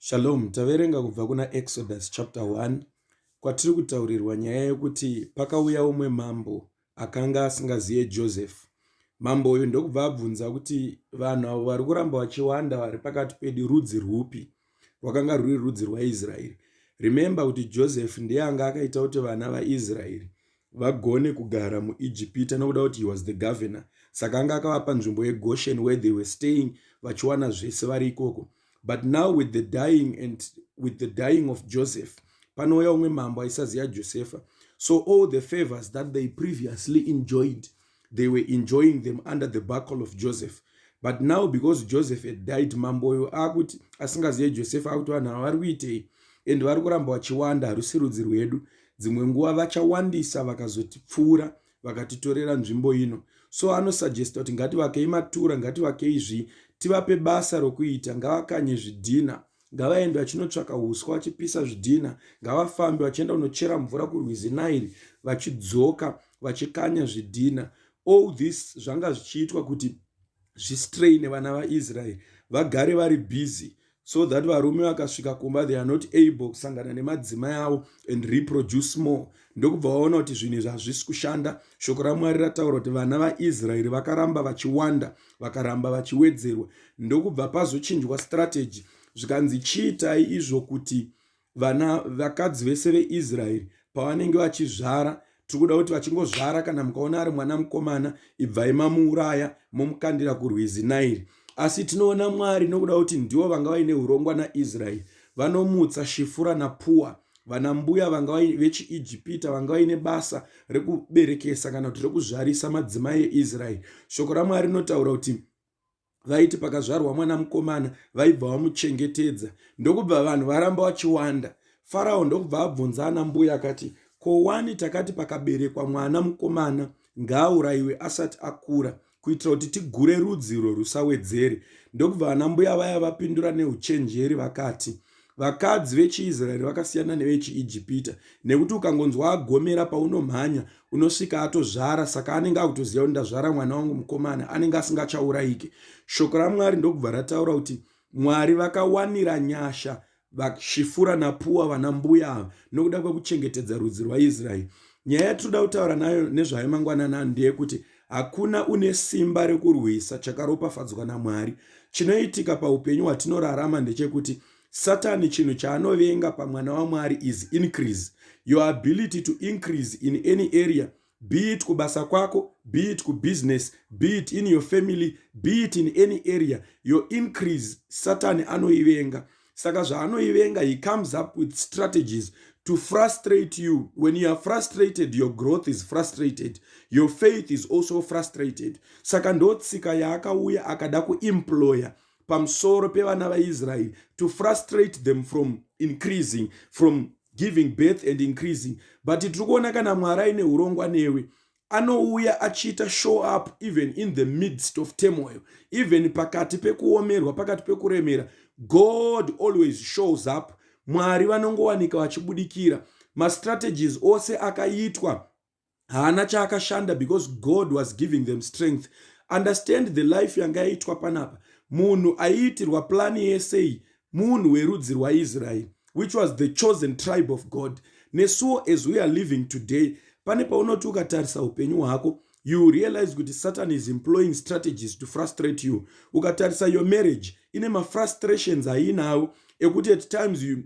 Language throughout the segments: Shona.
Shalom, taverenga kubva kuna Exodus chapter 1 kwatiri kutaurirwa nyaya yekuti pakauya umwe mambo akanga asingaziye Joseph. Mambo uyu ndokubva abvunza kuti vanhu avo vari kuramba vachiwanda vari pakati pedu rudzi rwupi? Rwakanga rwuri rudzi rwaIsraeri. Remember kuti Joseph ndiye anga akaita kuti vana vaIsraeri vagone kugara muijipita nokuda kuti he was the governor saka anga akavapa nzvimbo yegoshen where they were staying vachiwana zvese vari ikoko but now with the dying and with the dying of joseph panouya umwe mambo aisaziva josefa so all the favors that they previously enjoyed they were enjoying them under the buckle of joseph but now because joseph had died mamboyo akuti asingazive joseph akuti vanhu ava vari kuitei and vari kuramba vachiwanda harusi rudzi rwedu dzimwe nguva vachawandisa vakazotipfuura vakatitorera nzvimbo ino so anosuggesta kuti ngativakei matura ngativakei zvii tivape basa rokuita ngavakanye zvidhina ngavaende vachinotsvaka huswa vachipisa zvidhina ngavafambe vachienda kunochera mvura kurwizi nairi vachidzoka vachikanya zvidhina all this zvanga zvichiitwa kuti zvistraine vana vaisraeri vagare vari busy so that varume vakasvika kumba they are not able kusangana nemadzimai avo and reproduce more ndokubva vaona kuti zvinhu izvi hazvisi kushanda shoko ramwari rataura kuti vana vaisraeri vakaramba vachiwanda vakaramba vachiwedzerwa ndokubva pazochinjwa strategy zvikanzi chiitai izvo kuti vana vakadzi vese veisraeri pavanenge vachizvara tiri kuda kuti vachingozvara kana mukaona ari mwana mukomana ibvai mamuuraya momukandira kurwizi nairi asi tinoona mwari nokuda kuti ndivo vanga vaine urongwa naisraeri vanomutsa shifura napuwa vana mbuya vanga vechiijipita vanga vaine basa rekuberekesa kana kuti rekuzvarisa madzimai eisraeri shoko ramwari rinotaura kuti vaiti pakazvarwa mwana mukomana vaibva vamuchengetedza ndokubva vanhu varamba vachiwanda farao ndokubva abvunza ana mbuya akati ko wani takati pakaberekwa mwana mukomana ngaaurayiwe asati akura kuitira kuti tigure rudzi urwo rusawedzere. Ndokubva vanambuya vaya vapindura neuchenjeri vakati, Vakadzi vechiIsraeri vakasiyana nevechiIjipita, nekuti ukangonzwa agomera paunomhanya, unosvika atozvara, saka anenge akutoziva kuti ndazvara mwana wangu mukomana, anenge asingachaurayike. Shoko raMwari ndokubva rataura kuti Mwari vakawanira nyasha VaSvifura naPuwa vana mbuya ava nokuda kwekuchengetedza rudzi rwaIsrael. Nyaya yatinoda kutaura nayo nezvayo mangwanani ano ndeyekuti hakuna une simba rekurwisa chakaropafadzwa naMwari. Chinoitika paupenyu hwatinorarama ndechekuti Satani chinhu chaanovenga pamwana waMwari is increase. Your ability to increase in any area be it kubasa kwako be it kubusiness be it in your family be it in any area your increase satani anoivenga saka zvaanoivenga he comes up with strategies to frustrate you when you are frustrated your growth is frustrated your faith is also frustrated saka ndotsika yaakauya akada kuemployer pamusoro pevana vaisraeri to frustrate them from increasing from giving birth and increasing but tiri kuona kana mwari aine urongwa newe anouya achiita show up even in the midst of turmoil even pakati pekuomerwa pakati pekuremera god always shows up mwari vanongowanika vachibudikira mastrategies ose akaitwa haana chaakashanda because god was giving them strength understand the life yanga yaitwa panapa munhu aiitirwa plani yesei munhu werudzi rwaisraeri which was the chosen tribe of god nesuwo as we are living today pane paunoti ukatarisa upenyu hwako you realize kuti satan is employing strategies to frustrate you ukatarisa your marriage ine mafrustrations aiinawo ekuti at times you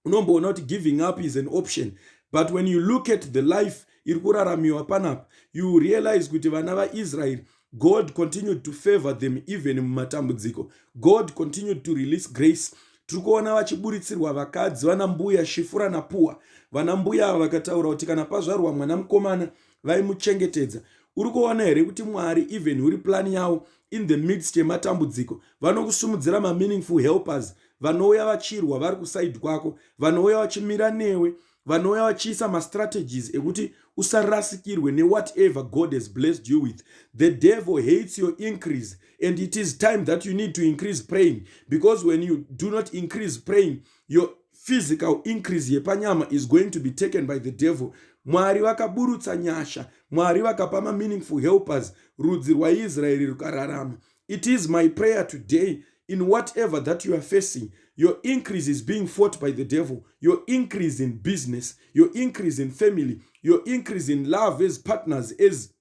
unomboona kuti giving up is an option but when you look at the life iri kuraramiwa panapa you realize kuti vana vaisraeri god continued to favor them even mumatambudziko god continued to release grace tiri kuona vachiburitsirwa vakadzi vana mbuya shifura napuwa vana mbuya ava vakataura kuti kana pazvarwa mwana mukomana vaimuchengetedza uri kuona here kuti mwari even uri plani yavo in the midst yematambudziko vanokusumudzira mameaningful helpers vanouya vachirwa vari kusaidi kwako vanouya vachimira newe vanouya vachiisa mastrategies ekuti usarasikirwe newhatever god has blessed you with the devil hates your increase and it is time that you need to increase praying because when you do not increase praying your physical increase yepanyama is going to be taken by the devil mwari vakaburutsa nyasha mwari vakapa mameaningful helpers rudzi rwaisraeri rukararama It is my prayer today in whatever that you are facing, your increase is being fought by the devil. Your increase in business, your increase in family, your increase in love as partners, as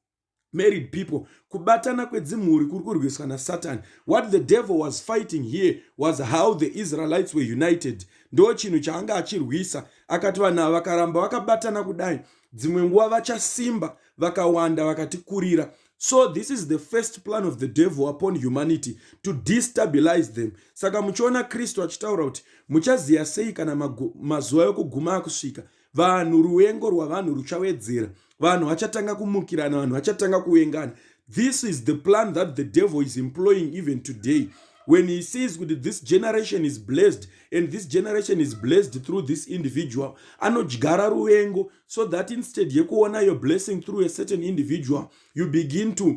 married people kubatana kwedzimhuri kuri kurwiswa nasatani what the devil was fighting here was how the israelites were united ndo chinhu chaanga achirwisa akati vanhu ava vakaramba vakabatana kudai dzimwe nguva vachasimba vakawanda vakatikurira so this is the first plan of the devil upon humanity to destabilize them saka muchiona kristu achitaura kuti muchaziva sei kana mazuva yokuguma akusvika vanhu ruvengo rwavanhu ruchawedzera vanhu vachatanga kumukirana vanhu vachatanga kuvengana this is the plan that the devil is employing even today when he sees kuti this generation is blessed and this generation is blessed through this individual anodyara ruvengo so that instead yekuona your blessing through a certain individual you begin to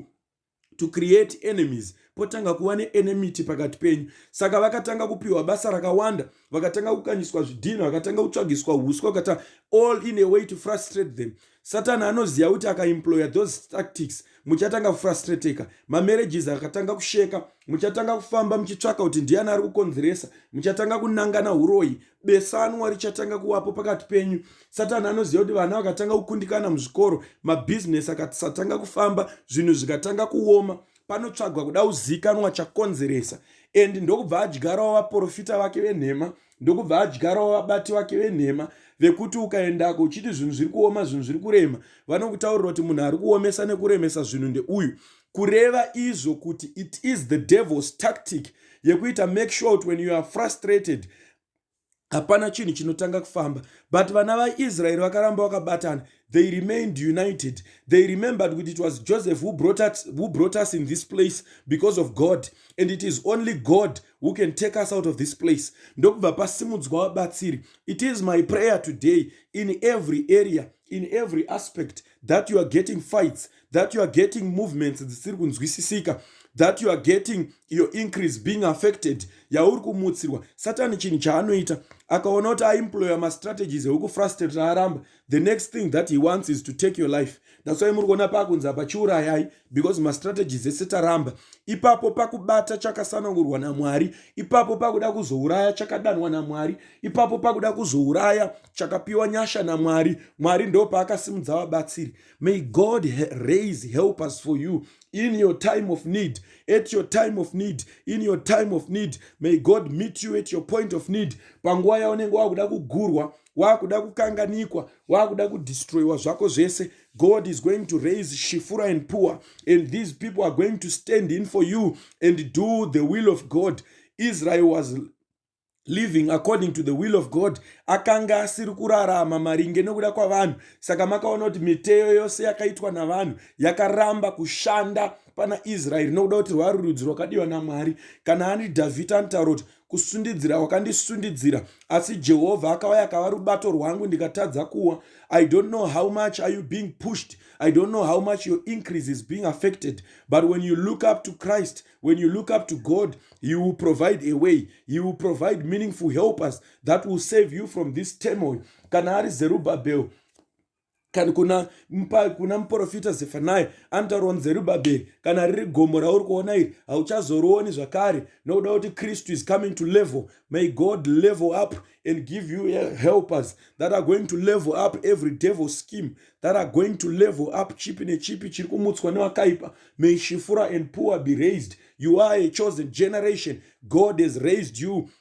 to create enemies potanga kuva neenemity pakati penyu saka vakatanga kupiwa basa rakawanda vakatanga kukanyiswa zvidhina vakatanga kutsvagiswa uswa kata all in a way to frustrate them satani anoziva kuti akaemployer those tactics muchatanga kufrustrateka mamarriages akatanga kusheka muchatanga kufamba muchitsvaka kuti ndiyani ari kukonzeresa muchatanga kunangana uroyi besanwa richatanga kuvapo pakati penyu satani anoziva kuti vana vakatanga kukundikana muzvikoro mabhizinesi akasatanga kufamba zvinhu zvikatanga kuoma panotsvagwa kuda kuzikanwa chakonzeresa and ndokubva adyarawo vaprofita vake venhema ndokubva adyarawo vabati vake venhema vekuti ukaendako uchiti zvinhu zviri kuoma zvinhu zviri kurema vanokutaurira kuti munhu ari kuomesa nekuremesa zvinhu ndeuyu kureva izvo kuti it is the devil's tactic yekuita make sure kuti when you are frustrated hapana chinhu chinotanga kufamba but vana vaisraeri vakaramba vakabatana they remained united they remembered kuti it was joseph who brought, us, who brought us in this place because of god and it is only god who can take us out of this place ndokubva pasimudzwa vabatsiri it is my prayer today in every area in every aspect that you are getting fights that you are getting movements dzisiri kunzwisisika that you are getting your increase being affected yauri kumutsirwa satani chinhu chaanoita akaona kuti aimploya mastrategies ekukufrustrate aramba the next thing that he wants is to take your life that's why muri kuona paakunzi apa chiurayai because mastrategies ese taramba ipapo pakubata chakasanangurwa namwari ipapo pakuda kuzouraya chakadanwa namwari ipapo pakuda kuzouraya chakapiwa nyasha namwari mwari ndo paakasimudza vabatsiri may god raise helpers for you in your time of need at your time of need in your time of need may god meet you at your point of need panguva yaunenge wakuda kugurwa wakuda kukanganikwa wakuda kudestroyiwa zvako zvese god is going to raise shifura and poor and these people are going to stand in for you and do the will of god israel was living according to the will of god akanga asiri kurarama maringe nokuda kwavanhu saka makaona kuti miteyo yose yakaitwa navanhu yakaramba kushanda pana israeri nokuda kuti rwari rudzi rwakadiwa namwari kana ani dhavhidha anotaura kuti kusundidzira wakandisundidzira asi jehovha akauya akava rubato rwangu ndikatadza kuwa i don't know how much are you being pushed i don't know how much your increase is being affected but when you look up to christ when you look up to god he will provide a way he will provide meaningful helpers that will save you from this turmoil kana ari zerubabel kana kuna, mpa, kuna muprofita zefanai anotaurwa nzerubabheri kana riri gomo rauri kuona iri hauchazorioni zvakare nokuda kuti kristu is coming to level may god level up and give you helpers that are going to level up every devil scheme that are going to level up chipi nechipi chiri kumutswa nevakaipa may shifura and poor be raised you are a chosen generation god has raised you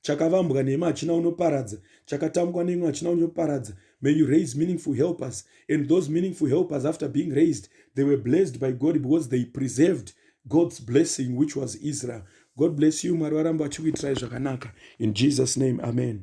chakavambwa neimwe hachina unoparadza chakatambwa neimwe hachina unoparadza may you raise meaningful helpers and those meaningful helpers after being raised they were blessed by god because they preserved god's blessing which was israel god bless you mwari varamba vachikuitirai zvakanaka in jesus name amen